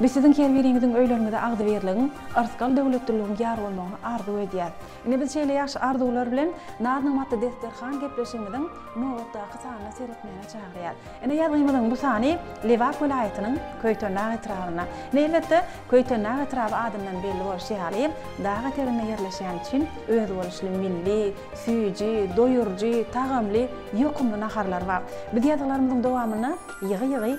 Biz siziň her biriňiziň öýleriňize agzybirligiň, yrsgal döwletliligiň ýar bolmagyny arzuw edýäs. Ine biz şeýle ýagşy arzuwlar bilen Narnyň maty desterhan gepleşigimiziň nobatdaky sanyna seretmäge çagyrýar. Ine ýazgymyzyň bu sany Lebap welaýatynyň Köýtendag etrabynda, ine elbetde Köýtendag etraby adyndan belli bolşy ýaly dag eteginde ýerleşýäni üçin özboluşly milli, süýji, doýuryjy, tagamly, ýokumly naharlary bar. Biz ýazgylarymyzyň dowamynda ýygy-ýygy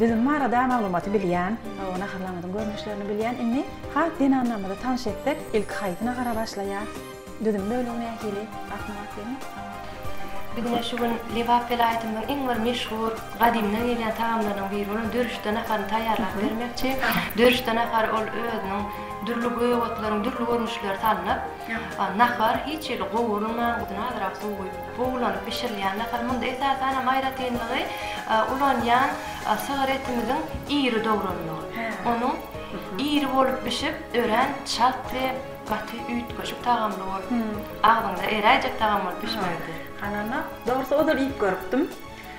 Düzüm barada maglumaty bilýän, hawa naharlaryňyzyň görnüşlerini bilýän indi has zenanlarymyzy tanyş etsek ilki haýsy nahara başlaýar? Düzüm bölegi nähili? Asyna bak diýmek. Biz ine şu gün Lebap welaýatymyzyň iň bir meşhur gadymdan gelýän tagamlarynyň biri bolan dörüşde naharyny taýýarlap bermekçi. Dörüşde nahary ol özüniň dürli gök otlaryň dürli görnüşleri salnyp. Ýa-ha, nahar hiç hili gowurylman, guduna azrak suw guýup, buglanyp bişirilýän nahar. Munda esasan hem aýratynlygy ulanýan sygyr etimiziň iri dograndygy. Onuň iri bolup bişip, örän çalt we gaty üýtgeşik tagamly bolup, agzyňda eräýjek tagam bolup bişmegidir. Ganamak, dogrusy ozal iýip görüpdim.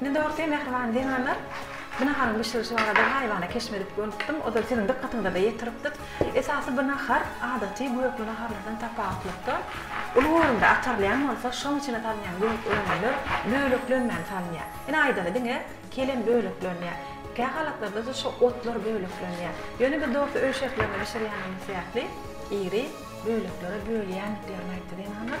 Men dogrusy mähriban zenanlar bu naharyň bişirilişi barada gaýybana keşp edip görüpdim, ozal siziň dykgatyňyza-da ýetiripdik. Esasy bu nahar adaty gökli naharlardan tapawutlykda uly görümde atarylýan bolsa, şoň içine salynýan gök önümler böleklenmän salynýar. Ine aýdany diňe kelem böleklenýär. Kä halatlarda-da şo otlar böleklenýär. Ýöne biz dogrusy öý şertlerinde bişirýänimiz sebäpli iri böleklere bölýändiklerini aýtdy zenanlar.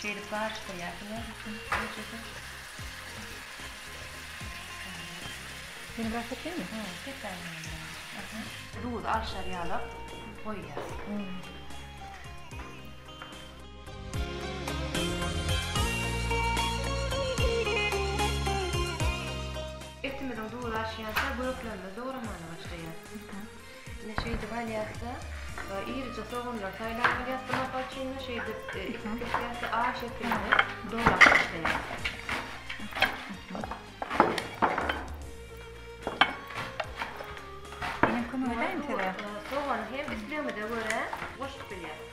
Şeýdip baryş goýarsyň öz üçin gijede. Seni biraz sepeymi? Hä, sepäý meni biraz. Aha. Duzy alşar ýalap goýýas. Etimiziň duzy aşýança göklerimiz dogramaga başlaýar. Ine şeýdip alýas-da, irije soganlary saýlap alýas. Bu mysal üçin şeýdip edip kesilýär. A şekilini dolap başlaýas. Men kömek edäýin size. Sogany hem islegimize görä goşup bilýäris.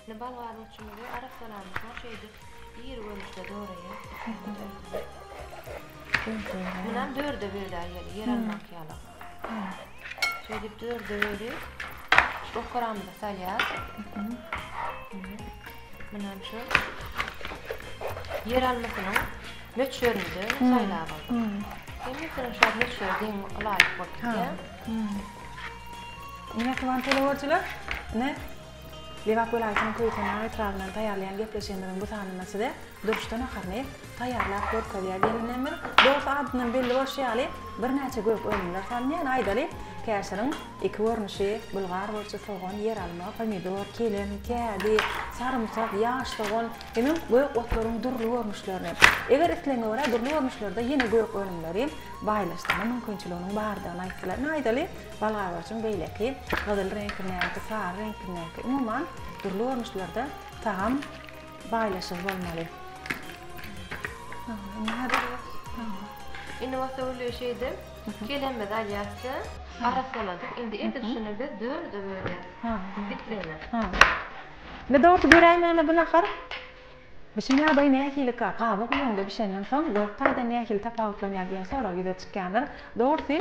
Indi bolgarowçymyzy arassalamyş soň şeýdip iri görnüşde doraýar. Munam dörde bölär ýeli, ýer almak ýaly. Şeýdip dörde bölüp, okaramyzy salýar. Munam şu ýer almasynyň möçberinde saýlap aldyk. Hemmesiniň şol möçberi deň laýyk bolup gitýär. Ine, Guwan teleworçylar, ine, Lebap welaýatynyň Köýtendag etrabyndan taýýarlaýan gepleşigimiziň bu sanynda size durşda naharyny taýýarlap görkezýär gelinlerimiz. Dogrusy adyndan belli bolşy ýaly birnäçe gök önümler salynýar. Aýdaly, käşiriň iki görnüşi, bulgar burçy, sogan, ýeralma, pomidor, kelem, kädi, sarymsak, ýaş sogan, hemem gök otlaryň dürli görnüşlerini, eger islegiňe görä dürli görnüşlerde ýene gök önümleri baýlaşdyrma mümkinçiliginiň bardygyny aýtdylar. Ine aýdaly, Balgabaşyň beýleki, gyzyl reňkindäki, sary reňkindäki, umuman, dürli görnüşlerde tagam baýlaşygy bolmaly. Indi häzir Indi bolsa uly şeýde kelemizi alýas-da, arassaladyk. Indi edil şuny biz dörde bölýäs. Bitleme. Indi dogrusu göräýmäne bu nahar. Bişim ýagdaýy nähilikä? Gaby guýuňda bişenden soň dört taýdan nähili tapawutlanýar diýen sorag ýüze çykýandyr. Dogrusy,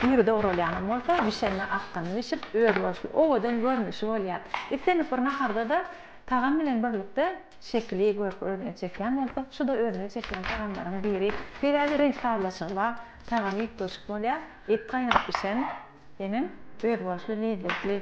iri dogralýanam bolsa, bişende akgyn bişip, özboluşly, owadan görnüşi bolýar. Islendik bir naharda-da tagam bilen birlikde şekili, görki özüne çekýän bolsa, şu-da özüne çekýän tagamlaryň biri. Sebäbi reňk sazlaşygy bar, tagamy üýtgeşik bolýar. Et gaýnap bişen hemem özboluşly lezzetli.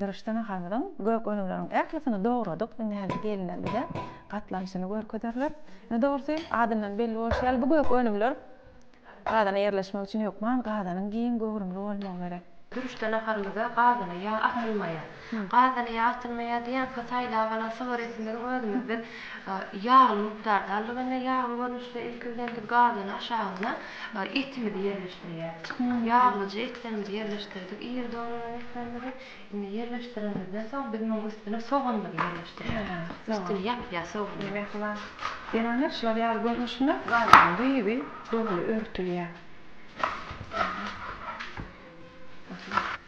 Dyrysdan hazryň gök önümleriň ählisini dogradyk, indi häzir gelinler bize gatlanyşyny görkezerler. Indi dogrusy, adyndan belli bolşy ýaly, bu gök önümler gazana ýerleşmek üçin hökman gazanyň giň göwrümli bolmagy gerek. Dyrysdan hazrymyza gazana ýag akdyrylmaýar. Gazany ýagtylma ýa-da ýaňky saýlap alan sigaretimiziň özümizde ýagly mukdardalygy we ýagly görnüşde ilki bilen biz gazany aşagyna etimizi ýerleşdirýäris. Ýaglyja etlerimizi ýerleşdirdik, iri dogrulan etlerimizi. Indi ýerleşdirenimizden soň biz munuň üstüne soganymyzy ýerleşdirýäris. Üstüni ýapýar soganyň. Ýöne şular ýaly görnüşinde gazanyň gyzy doly örtülýär.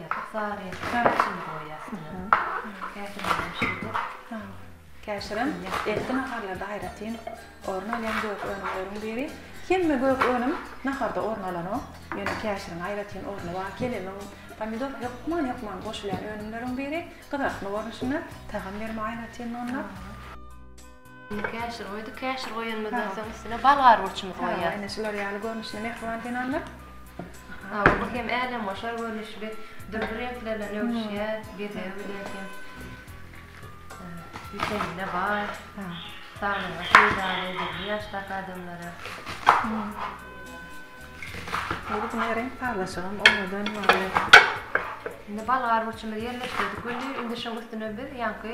Bu sary çaý içinde goýýas diýýär. Käşirlenem şeýdip. Käşirem ertir naharlarda aýratyn orun alýan gök önümleriň biri. Hemme gök önüm naharda orun alanok. Ýöne käşiriň aýratyn orny bar. Kelemiň, pomidor hökman-hökman goşulýan önümleriň biri. Gyzartma görnüşinde, tagam berme aýratynlygynda. Indi käşir goýduk. Käşir goýanymyzdan soň üstüne bal gargurçymyzy goýýas. Hawa, ine şular ýaly görnüşli mähriban zenanlar. Hawa, bu hem älemgoşar görnüşli, dürli reňkler bilen öwüşýär, bezegi bilen hem witamine baý, saglyga peýdaly, dürli ýaşdaky adamlara. Indi buna reňk sazlaşygam owadan bolýar. Indi bal gargurçymyzy ýerleşdirdik weli, indi şunuň üstüne biz ýaňky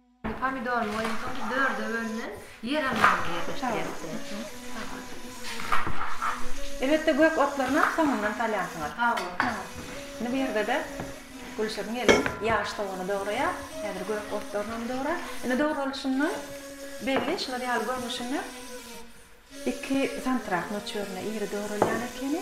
Indi pomidorymy goýan soň biz dörde bölünen ýer almaga ýerleşdirýäris. Elbetde gök otlarynam soňundan salýansyňyz. Hawa. Indi bu ýerde-de Gülşirin gelin ýaş sogany dograýar. Häzir gök otlarynam dograr. Indi dogralyşyndan belli şular ýaly görnüşinde iki santyrak möçberinde iri dogralýan ekeni.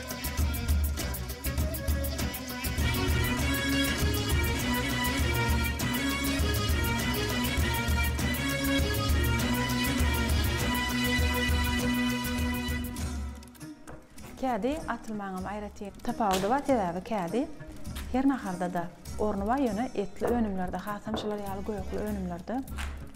Kädi atylmaňam aýratyn tapawudy bar, sebäbi kädi her naharda-da orny bar, ýöne etli önümlerde, hasam şular ýaly gökli önümlerde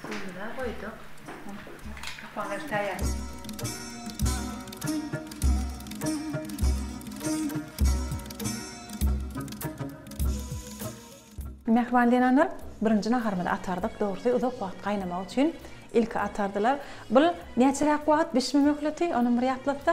Suwumyzam goýduk. Kapaňyzy taýýarlaň. Mähriban zenanlar birinji naharymyzy atardyk. Dogrusy uzak wagt gaýnamagy üçin ilki atardylar. Bul näçeräk wagt bişme möhleti, onam bir ýatlatsa?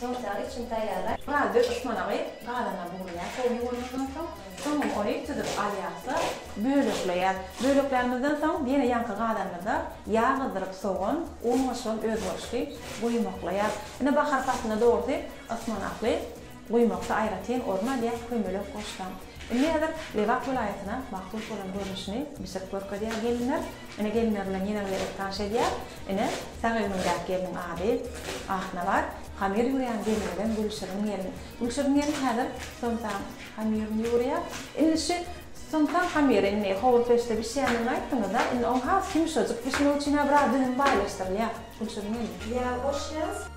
Sosial üçin taýýarlar. Gaz döş ysmanagy gazana bugraýar, sowy ýuwunandan soň, soňam ony süzüp alýarys-da, bölekleýäris. Böleklämizden soň ýene ýaňky gazanymyza ýag gyzdyryp sogan, un goşulan özboluşly guýmaklaýarys. Ine bahar paslynda dogrusy ysmanakly guýmakda aýratyn orun alýan köýmelek goşlaň. Indi häzir Lebap welaýatyna mahsus bolan görnüşini bişirip görkezýär gelinler. Ine gelinler bilen ýene bile el tanş edýär. Ine sag egnimdäki gelniň ady Ahnabat. Hamyr ýugurýan gelinimiz Gülşirin gelin. Gülşirin gelin häzir somsaň hamyryny ýugurýar. Indi şu somsaň hamyry indi howur peçde bişýändigini aýtdyňyzda indi oň has ýumşajyk bişmegi üçin-ä biraz düzüm baýlaşdyrylýar Gülşirin gelin. Ýag goşýas.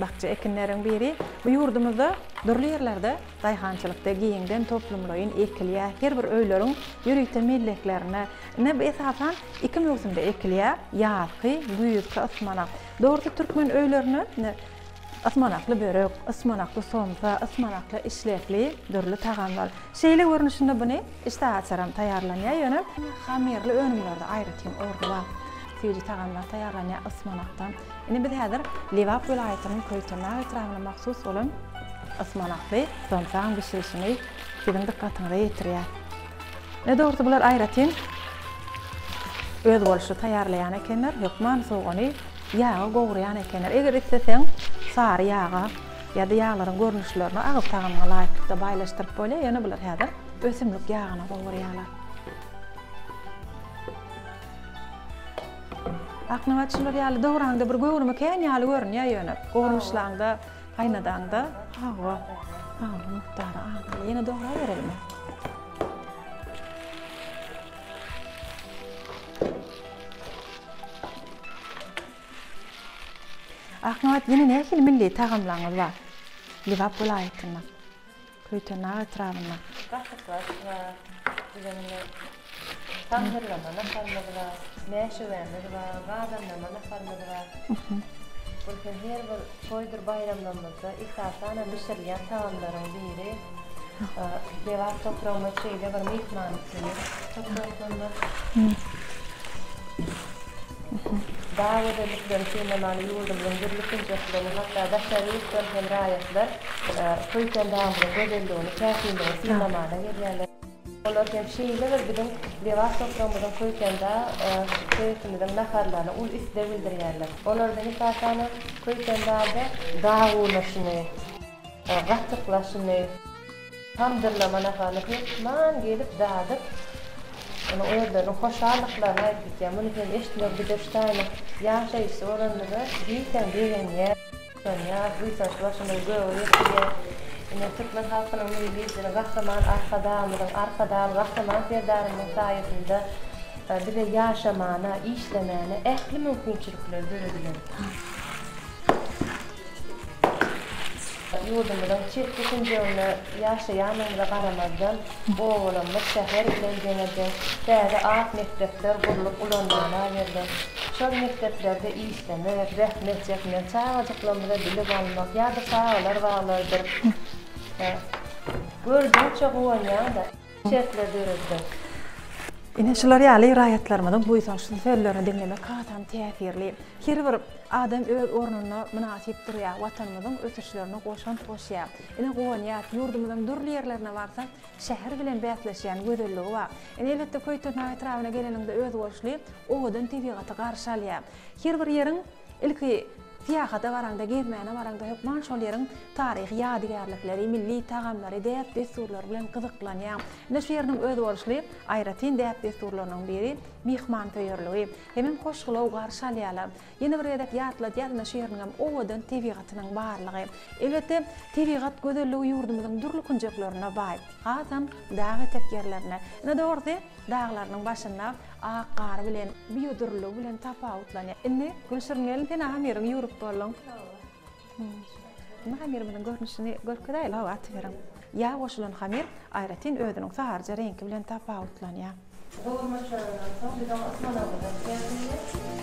Bakja ekinleriň biri bu ýurdumyzda dürli ýerlerde daýhançylykda giňden toplumlaýyn ekilýär. Her bir öýleriň ýörite melleklerine. Ine bu esasan iki möwsümde ekilýär, ýazky, güýzki ysmanak. Dogrusy türkmen öýlerinde ine ysmanakly börek, ysmanakly somsa, ysmanakly işlekli dürli tagamlar. Şeýle görnüşinde buny işdä açaram taýýarlanýar, ýöne hamyrly önümlerde aýratyn orny bar. Süýji tagamlar taýýarlanýar ysmanakdan. Indi biz häzir Lebap welaýatynyň Köýtendag etrabyna mahsus bolan ysmanakly zomsagyň bişirişini siziň dykgatyňyza ýetirýäs. Ine, dogrusy bular aýratyn özboluşly taýýarlaýan ekenler, hökman sogany ýaga gowurýan ekenler. Eger isleseň, sary ýaga ýa-da ýaglaryň görnüşlerini agyz tagamyňa laýyklykda baýlaşdyryp bolýar, ýöne bular häzir ösümlik ýagyna gowurýarlar. Aknabat şular ýaly dowraňda bir göwrümi kän ýaly görünýär ýöne gowrumyşlaňda, gaýnadaňda hawa. Hawa, mukdary az. Ýene dograberelimi? Aknabat ýene nähili milli tagamlaryňyz bar? Lebap welaýatyndan. Köýtendag etrabynda. Gatyklaryş bar, diýlen indi tamdyrlama naharymyz bar, mäşewemiz bar, badamlama naharymyz bar. Bul hem her bir toýdur baýramlarymyzda esasanam bişirilýän tagamlaryň biri. Lebap topragymyz şeýle bir myhman Bag gözelliklerini synlamaga ýurdumyzyň dürli künjekleriniň, hatda daşary ýurtdan hem raýatlar bu ösen dagymyzyň gözelligini, täsinligini synlamana gelýärler. Olar hem şeýle bir biziň lebap topragymyzyň Köýtendag sebitimiziň naharlaryna uly isleg bildirýärler. Olardan esasanam Köýtendagda dag urnaşyny, gatyk lagşyny. Tamdyrlama nahary hökman gelip dadyp, onuň özleriniň hoşallyklaryny aýdyp gitýär. Muny sen eşitmegi bize şu taýynyň ýaşaýjysy bolanymyza diýseň begenýär, buýsanýar, buýsanç başymyzy göge ýetirýär. Ine, türkmen halkynyň Milli Lideri Gahryman Arkadagymyzyň, Arkadagly Gahryman Serdarymyzyň saýasynda bize ýaşamana, işlemäne ähli mümkinçilikler döredilen. Ýurdumyzyň çetki künjeginde ýaşaýanymyza garamazdan, obalarymyz şäher bilen deňeje täze ak mekdepler gurlup ulanmaga berlen. Şol mekdeplerde işleme, zähmet çekmek, çagajyklarymyza bilim almak ýa-da çagalar baglarydyr. Görjekçe guwanýan-da. şertler döretmek. Ine şular ýaly raýatlarymyzyň buýsançly sözlerini diňlemek hasam täsirli. Her bir adam öz ornunda mynasyp durýar, Watanymyzyň ösüşlerine goşant goşýar. Ine guwanýas, ýurdumyzyň dürli ýerlerine barsaň, şäher bilen bäsleşýän gözelligi bar. Ine elbetde Köýtendag etrabyna geleniňde özboluşly owadan tebigaty garşy alýar. Her bir ýeriň Ilki syýahata baraňda, gezmäne baraňda hökman şol ýeriň taryhy ýadygärlikleri, milli tagamlary, däp-dessurlary bilen gyzyklanýaň. Ine şu ýeriniň özboluşly aýratyn däp-dessurlarynyň biri myhmansöýerligi. Hemem hoşgylaw garşy alýarlar. Ýene bir gezek ýatladýas, ine şu ýeriniňem owadan tebigatynyň barlygy. Elbetde, tebigat gözelligi ýurdumyzyň dürli künjeklerine baý. Hasam dag etek ýerlerine. Ine dogrusy, Daglarynyň başynda ak gary bilen, biodürlüligi bilen tapawutlanýar. Indi Gülşirin gelin sen agam ýeriň ýüwrük bolduň. Indi hamyrymyzyň görnüşini görkezäýeli hawa atyberiň. Ýag goşulan hamyr aýratyn özüniň saryja reňki bilen tapawutlanýar. Gowurmaçlaryndan soň biz oňa ysmanagyny goşýarys indi.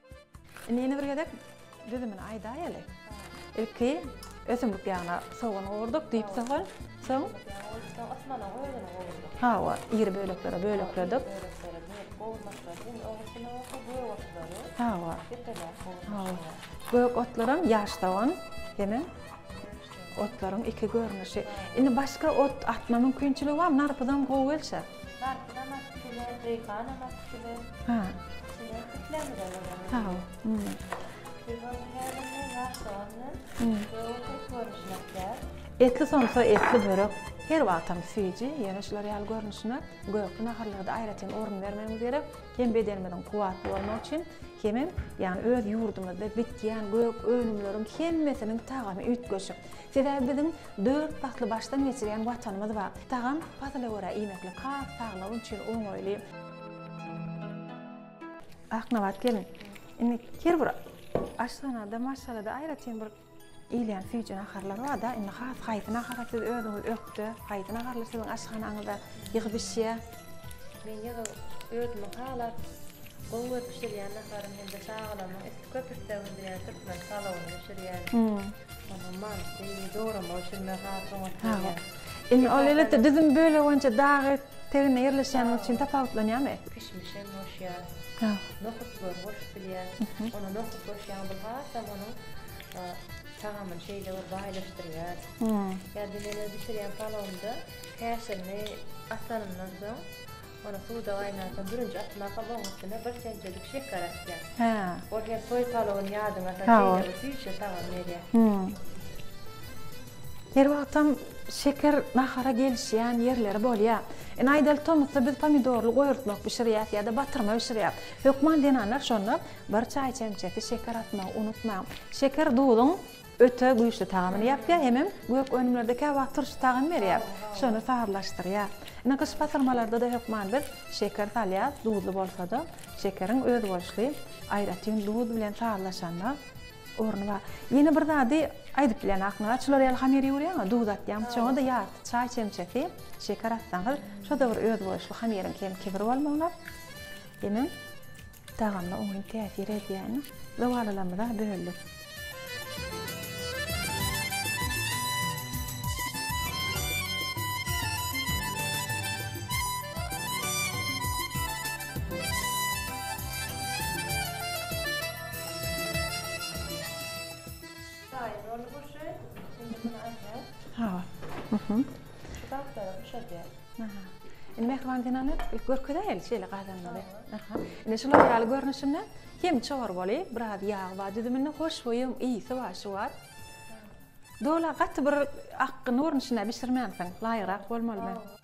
Indi ýene bir gezek düzümini aýdaýaly. Ilki ösümlik ýagyna sogan gowurdyk, düýp sogan, soň Osmanyň özüni gowurdyk. Hawa, iri böleklere bölekledik. Böleklere bölüp gowurmakçylyk, indi oň üstüne bolsa gök otlary. Hawa. Depeläp gowurmakçylyk. Gök otlaram ýaş sogan, hemem. Otlaryň iki görnüşi. Indi başga ot atma mümkinçiligi barmy? Narpyzam gowy gelşä. Narpyzam atyp biler, reýhanam atyp biler. Ha. Şular piklemizem ölen. Sag bol. Hmm. Şular häzirki wagtda Hmm. Ot görnüşini atýar. Etli somsa, etli börek her wagtam süýji, ýöne şular ýaly görnüşine gökli naharlarda aýratyn orun bermegimiz gerek. Hem bedenimiziň kuwwatly bolmagy üçin, hemem ýagny öz ýurdumyzda bitýän gök önümleriň hemmesiniň tagamy üýtgeşik. Sebäbi biziň dört pasly başdan geçirýän Watanymyz bar. Tagam, pasyla görä iýmeklik has saglyk üçin oňaýly. Aknabat gelin, indi her bir aşhanada, maşgalada aýratyn bir Iýilýän süýji naharlar bar-da, indi has haýsy nahara siz özüňiz ökde, haýsy naharlar siziň aşhanaňyzda ýygy bişýär? Men ýygy özümiň halap, gowy görüp bişirýän naharym hem-de çagalarymyň isleg, köp isleg bildirýän türkmen palawyny bişirýän. Ondan manysy, dograma üçin men has oňat görýän. Indi ol elbetde düzüm bölegi boýunça dagy tegine ýerleşýänligi üçin tapawutlanýarmy? Kişmişem goşýar. Nohutlary goşup bilýär. Ona nohut goşýaň bu hasam onuň tagamyny şeýle bir baýlaşdyrýar. Ýa-da men öz bişirýän palawymda käşirini atanymdan soň ony suwda gaýnatsaň birinji atmakam oň üstüne bir semsedik şeker atýan. Ol hem toý palawyny ýadyňa salyp şeýle bir süýji tagam berýär. Her wagtam Şeker nahara gelişýän ýerleri bolýar. Ine aýdaly tomusda biz pomidorly goýurtmak bişirýäs ýa-da batyrma bişirýäs. Hökman zenanlar şonda bir çaý çemçesi şeker atmagy unutmaň. Şeker duzuň öte güýçli tagamyny ýapýar hemem gök önümlerde käwagt turşy tagamy berýär. Şony sazlaşdyrýar. Ine gyş batyrmalarda-da hökman biz şeker salýas, duzly bolsa-da. Şekeriň özboluşly aýratyn duz bilen sazlaşanda. Ornuwa, ýene bir zady aýdyp bilen aklyňyza açylar ýaly hamir ýugurýaňa, duz atýaňyz, şoňa da ýarty çaý çemçesi şeker atsaňyz, şo-da bir özboluşly hamiriň kem kibir bolmagyna hemem tagamyna oňyn täsir edýän zowalylymyza böldük. Taýyn boldy bu işe. Indi muny alýas. Hawa. Şu gaplary buşadýas. Aha. Indi Mähriban zenanlar görkezäýeli şeýle gazanmagy. Aha. Indi şular ýaly görnüşinde hem çowar boli, biraz ýagy bar düzüminde, hoşboýy, ysy bar, şu bar. Dola gaty bir akgyn görnüşinde bişirmänsiň. Laýyrak bolmalymy?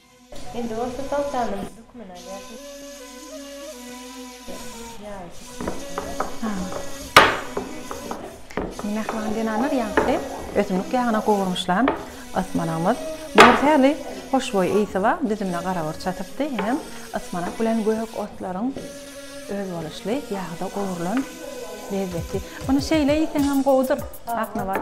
Indi bolsa soltanyň hökmüni alýarsyň. Ýagy çekip Indi mähriban zenanlar ýagty ösümlik ýagyna gowurmyşlan ysmanagymyz bor sähli hoşboý ysy bar, düzümine garagurç atypdy, hem ysmanak bilen gök otlaryň özboluşly ýagda gowrulan lezzeti. Muny şeýle iýseňem gowudyr. Aknabat.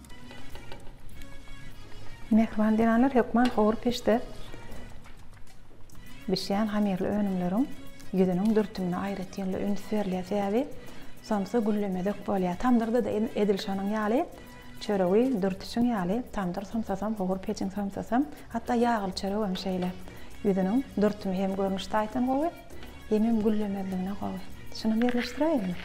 Mähriban zenanlar hökman howur peçde bişýän hamyrly önümleriň ýüzüniň dürtümine aýratynly üns berilýär, sebäbi somsa güllemezek bolýar. Tamdyrda-da edil şonuň ýaly, çöregi dürtüşiň ýaly, tamdyr somsasam, howur peçiň somsasam, hatda ýagly çöregem şeýle. Ýüzüniň dürtümi hem görnüş taýdan gowy, hemem güllemezligine gowy. Şunam ýerleşdiräýeliňmi?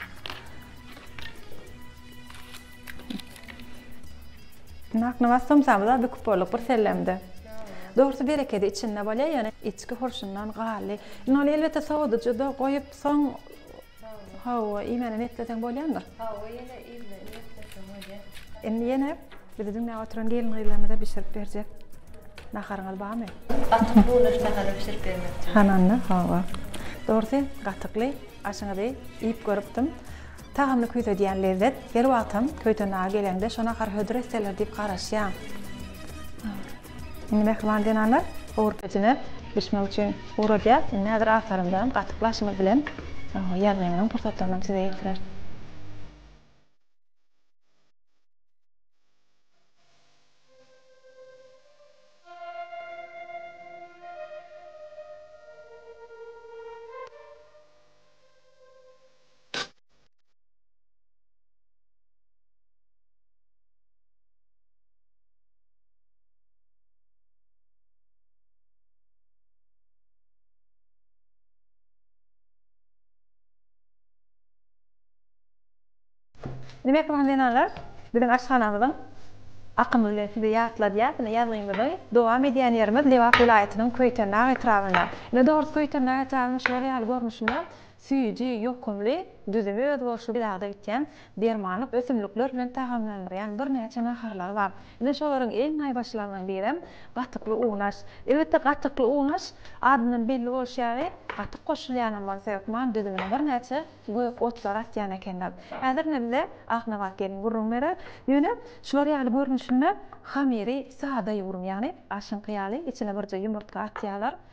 Nakny was somsamyza büküp bolduk bir sellemde. Dogrusu berekedi içinde bolýar, ýöne içki hurşundan gally. Indi ony elbetde sowadyjyda goýup soň hawa, iýmäne niýetleseň bolýandyr. Hawa, ýene iýmäne niýetleseň bolýar. Indi ýene bizi diňläp oturan gelin-gyzlarymyza bişirip berjek naharyňyz barmy? Gatyk bulaş nahary bişirip bermekçi. Hananda, hawa. Dogrusu, gatykly aşyňyzy iýip görüpdim. Tagamly küýsedýän lezzet, her wagtam töýten dagy geleňde şo nahar hödür etseler diýip garaşýaň. Indi mähriban zenanlar gowur pecine bişmegi üçin ugradýar. Indi häzir atarymdan gatyk laşymyz bilen ýazgymyzyň pursatlarynam size ýetirer. Diýmek, Magtymguly zenanlar biziň aşhanamyzyň akamy bilen sizi ýatladýar. Ine, ýazgymyzy dowam edýän ýerimiz Lebap welaýatynyň Köýtendag etrabynda. Ine, dogrusy Köýtendag etrabynyň şular ýaly görnüşinde Süýji, ýokumly, düzümi özboluşly bilagyda bitýän, dermanlyk ösümlikler bilen tagamlandyrýan birnäçe naharlary bar. Ine şolaryň iň naýbaşylarynyň birem gatykly unaş. Elbetde gatykly unaş, adyndan belli bolşy ýaly, gatyk goşulýanam bolsa hökman düzümine birnäçe gök otlary atýan ekenler. Häzir ine bize Aknabat gelin gürrüň berer. Ýöne şular ýaly görnüşinde hamiri sada ýugrumy, ýagny aşyňky ýaly içine birje ýumurtga atýarlar,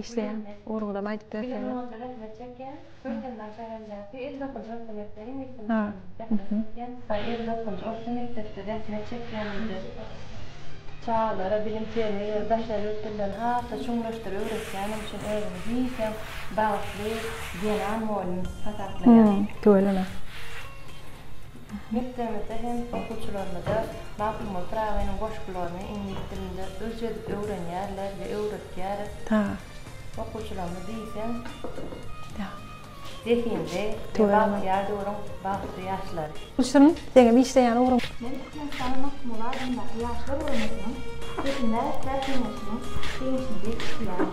Işleýän urgudam aýdyp berseňiz. Çagalara bilim terbiýe berip daşary ýurt dillerini hasda çuňlaşdyr öwretýänim üçin özümi diýseň bagtly zenan mugallym hasaplaýan. Tüweleme. Mekdebimizde hem okuwçylarymyza Magtymguly Pyragynyň goşgularyny iňlis dilinde ürç edip öwrenýärler we öwretýäris. Okuwçylarymyz diýseň zehinli we bagtyýar döwrüň bagtly ýaşlary. Gülsüm, seňem işleýän ugruň. Men Türkmenistanyň Magtymguly adyndaky Ýaşlar guramasynyň Hökümdar kärhenäsiniň seýisini edip işleýärin.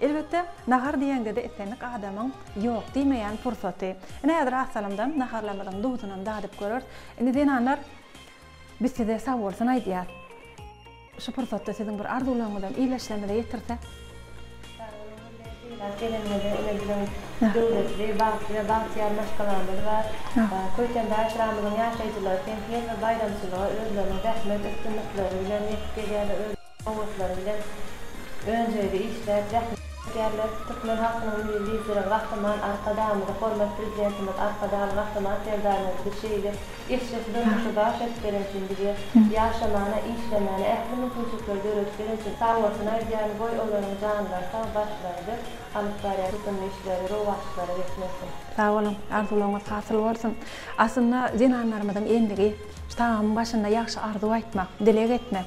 Elbetde, nahar diýeňde-de islendik adamyň ýok diýmeýän pursaty. Ine häzir az salymdan naharlarymyzyň duzunam dadyp göreris. Indi zenanlar biz size sag bolsun aýdýas. Şu pursatda siziň bir arzuwlaryňyzam illeşlerimize ýetirsek. Sag boluň bize sylag geleniňize ine biziň döwletli, bagtly we bagtyýar maşgalamyz bar. Köýtendaý etrabynyň ýaşaýjylary hem her bir baýramçylyga özleriniň zähmet üstünlikleri bilen ýetip gelýärler. Sowgatlary bilen önjeýli işläp, zähmet çekýärler. Türkmen halkynyň Milli Lideri Gahryman Arkadagymyza, hormat Prezidentimiz Arkadagly Gahryman Serdarymyz bize şeýle eşretli durmuşy bagyş edip beren üçin, bize ýaşamana, işlemana ähli mümkinçilikleri döredip beren üçin sag bolsun aýdýaryn, goý olaryň janlary sag, başlary dik, alyp barýan tutumly işleri rowaçlyklara ýetmezsin. Sag boluň, arzuwlaryňyz hasyl bolsun. Aslynda zenanlarymyzyň endigi şu tagamyň başynda ýagşy arzuw aýtmak, dileg etmek.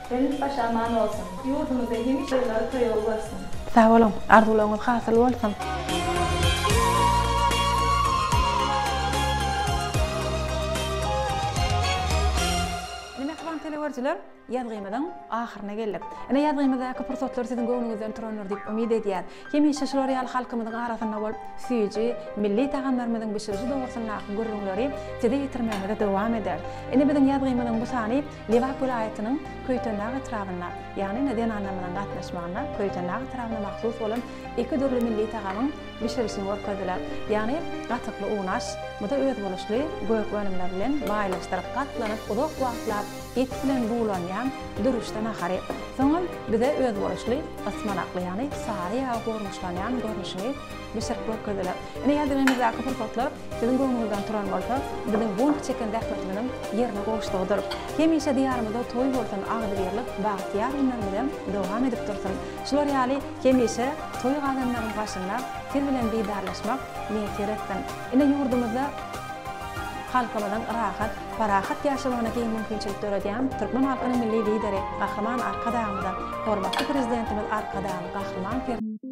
Deniz başy aman bolsun. Ýurdumyzda hemişe ýyllary toýagy bolsun. Sag boluň, arzuwlaryňyz hasyl bolsun! Ine mähriban teleögerijiler, ýazgymyzyň ahyryna geldik. Ine ýazgymyzdaky pursatlar siziň göwnüňizden turandyr diýip umyt edýäs. Hemişe şular ýaly halkymyzyň arasynda bolup, süýji, milli tagamlarymyzyň bişiriji dogrusyndaky gürrüňleri size ýetirmegimizi dowam ederis. Ine biziň ýazgymyzyň bu sany. Lebap welaýatynyň Köýtendag etrabynda, ýagny ine zenanlarymyzyň gatnaşmagynda Köýtendag etrabyna mahsus bolan iki dürli milli tagamyň bişirilişini görkezdiler. Ýagny gatykly unaş, bu-da özboluşly gök önümler bilen baýlaşdyryp gatlanyp uzak wagtlap et bilen bulanýan dürüşde nahary, soňam bize özboluşly ysmanakly ýagny sary ýaga gurluşlanýan görnüşini bişirip görkezdiler. Ine ýadygymyzdaky pursatlar siziň göwnüňizden turan bolsa, biziň bont çeken zähmetimiziň ýerine gowuşdygydyr. Hemişe Diýarymyzda toý bolsun, agzybirlik, bagtyýar günlerimizem dowam edip dursun. Şular ýaly hemişe toý gazanlaryň başynda siz bilen didarlaşmak miýesser etsin. Ine ýurdumyzda halkymyzyň rahat, parahat ýaşamagyna giň mümkinçilik döredýän türkmen halkynyň Milli Lideri Gahryman Arkadagymyza, hormatly Prezidentimiz Arkadagly Gahryman